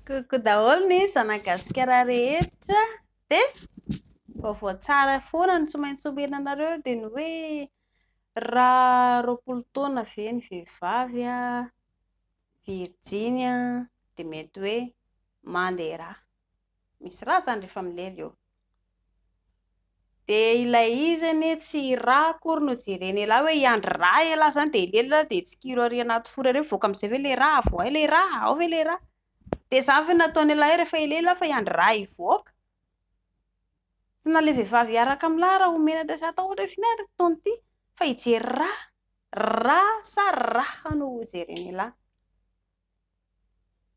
Coucou daholo ny zanagasikara rehetra dia vaovao tsara foana no tsy maintsy omena anareo dia ny hoe raha roapolo taona ve ny vehivavy virjiny dia mety hoe mandeha rà. Misy ra zany rehefa milely eo. Dia ilay izy anie tsy ra akory no jereny elah hoe hiandry ra elah zany dia hilely ra dia tsikiro ary anaty four ary mivoaka amin'izay ve ilay ra, avoahy ilay ra, ao ve ilay ra? Dia izany ve no nataony elah hoe rehefa hilely elah fa hiandry ra hivoaka? Tsy na ilay vehivavy hiaraka amin'ny lahy raha ho menatra sy hatao ohatra hoe f'inona ary ny fotoana ity fa hijery ra, ra sa raha no ho jereny elah.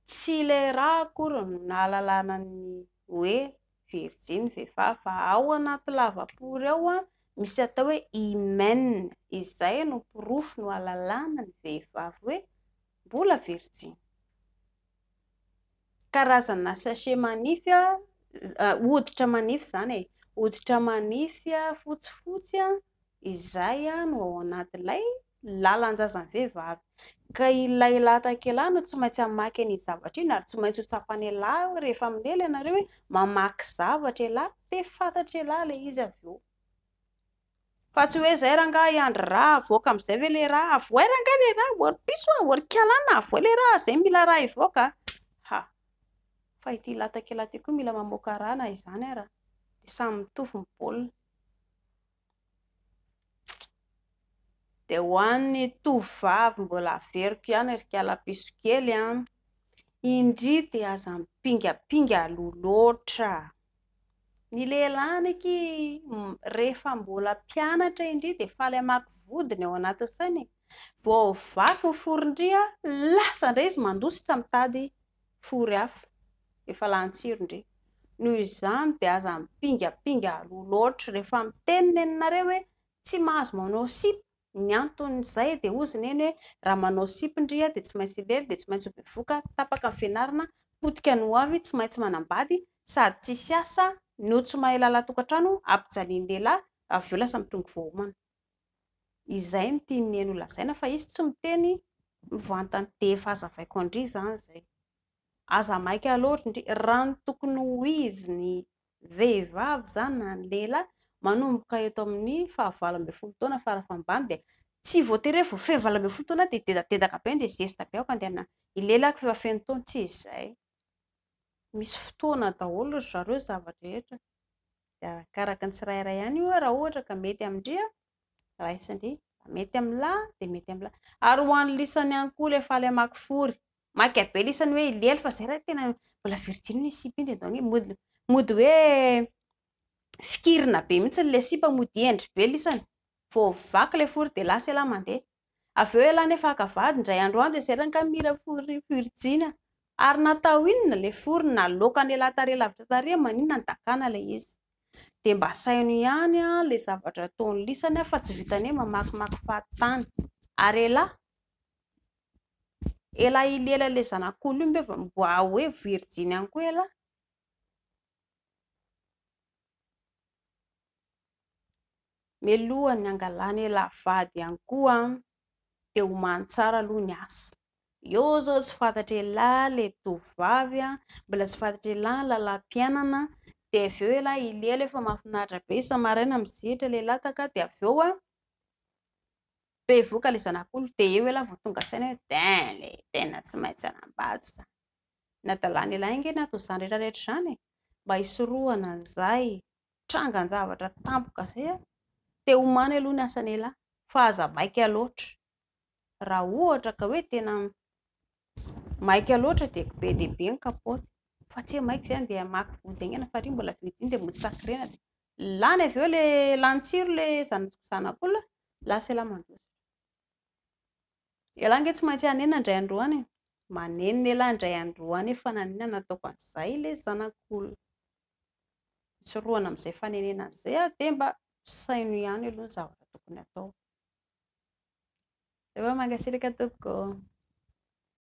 Tsy le ra akory no nahalalana ny hoe virjiny vehivavy fa ao anaty lavapory ao misy atao hoe hymen izay no porofo no alalana ny vehivavy hoe mbola virjiny. Karazana sachet manify hoditra manify izany e, hoditra manify fotsifotsy Izay no ao anatin'ilay lalan-jazan'ny vehivavy. Ka ilay lahatakela no tsy maintsy hamaky an'iny zavatra iny, ary tsy maintsy ho tsapan'ialahy hoe rehefa milely ianareo hoe mamaky zavatra ialahy dia fantatr'ialahy ilay izy avy eo. Fa tsy hoe izay rangahy Andry ra havoaka amin'izay ve ilay ra? Avohay rangahy ilay ra, ô ry piso a, ô ry kialana, avohay ilay ra, izay mila ra hivoaka a! Ha! Fa ity lahatakela ity koa mila mamoaka ra na izany ara, dia samy mitovy ny baolina. Dia ho an'ny tovovavy mbola averiko ihany ry kalapiso kely an! Indry dia aza mipingapinga aloha loatra. Ny lehilahy anie ki rehefa mbola mpianatra indry dia faly hamaky vody ny ao anatin'ny sainy e! Vao vaky ny foron-dry an, lasa indray izy mandositra mitady Trory afo, efa lany tsiro ndry. Noho izany dia aza mipingapinga aloha loatra rehefa miteny ny anareo hoe tsy mahazo manao sipa, ny anton'izay dia hozy neny hoe raha manao sipa ndry aho dia tsy maintsy hilely, dia tsy maintsy ho bevoka, tapaka ny fianarana, potika ny hoavy, tsy maintsy manambady, sady tsisy asa, no tsy mahay lalatokatrano, ampijalian'ny lehilahy, avy eo lasa mitrongy voahomana. izay no tian'i Neny holazaina fa izy tsy miteny mivantana dia efa azavaiko an-dry izany izay, aza maika loatra ndry, raha ny tokony ho izy ny vehivavy izany na ny lehilahy manomboka eto amin'ny faha valo ambin'ny folo taona fara fambany dia tsy voatery hoe vao feno valo ambin'ny folo taona dia dedadedaka be dia zesta be aoka andeha hilelaka fa efa feno taona, tsy izay. misy fotoana daholo ry zareo ny zava-drehetra, dia arakaraka ny tsirairay ihany io hoe raha ohatra ka mety amin-dry an, raisin-dry, raha mety amin'ny lahy an, dia mety amin'ny lahy. Ary ho an'ny lisany ihany koa ilay faly hamaky fory, maika be lisany hoe i lely fa izay raha tena mbola virjiny ny sipa iny dia ataony hoe mody, mody hoe fikirina be mihitsy ilay sipa mody hendry be lisany, vao vaky ilay fory dia lasa elah mandeha. Avy eo ialahy nefa haka vady, indray andro any dia zay rangahy mira fory fiorijina. Ary natao inona ilay fory, naloaka an'ialahy tarehy lavitra tarehy, maninona no dakana ilay izy. Dia mba asaino ihany ilay zavatra ataon'ny lisany fa tsy vitan'ny hoe mamakimaky fahatany. Ary ialahy, ialahy i lela ilay zanak'olona io ve mba ho hoe virijiny ihany koa ialahy? Mialoha ny hangalana elah vady ihany koa an, dia homany tsara aloha ny asa. Eo izao tsy fantatra elah ilay tovovavy an, mbola tsy fantatra elah ny lalam-piainana, dia avy eo elah i Lelo efa mahafinaritra be, isa-maraina mizetra ilay lataka, dia avy eo an, bevoka ilay zanak'olona, dia eo elah vao tonga saina hoe dain le tena tsy maintsy hanambady izany, ny hadalana elah ange ny aton'izany rehetra rehetra izany e, mba hisorohana an'izay trangan-javatra tampoka izay a! te homany aloha ny asan'ialahy fa aza maika loatra, raha ohatra ka hoe tena maika loatra dia be dia be ny kapaoty fa tsy hoe maika izany dia hamaky vody haingana fa ry mbola vitsy iny dia mody sakrena dia lany avy eo ilay, lany tsiro ilay zanak'olona, lasa ialahy mandositra, ialahy ange tsy maintsy hanenina indray andro any e! manenina ialahy indray andro any hoe fa naninona no nataoko an'izay ilay zanak'olona. hisorohana amin'izay fanenenana izay aho dia mba saino ihany aloha ny zavatra tokony hatao. Zay fa mankasitraka tompoko.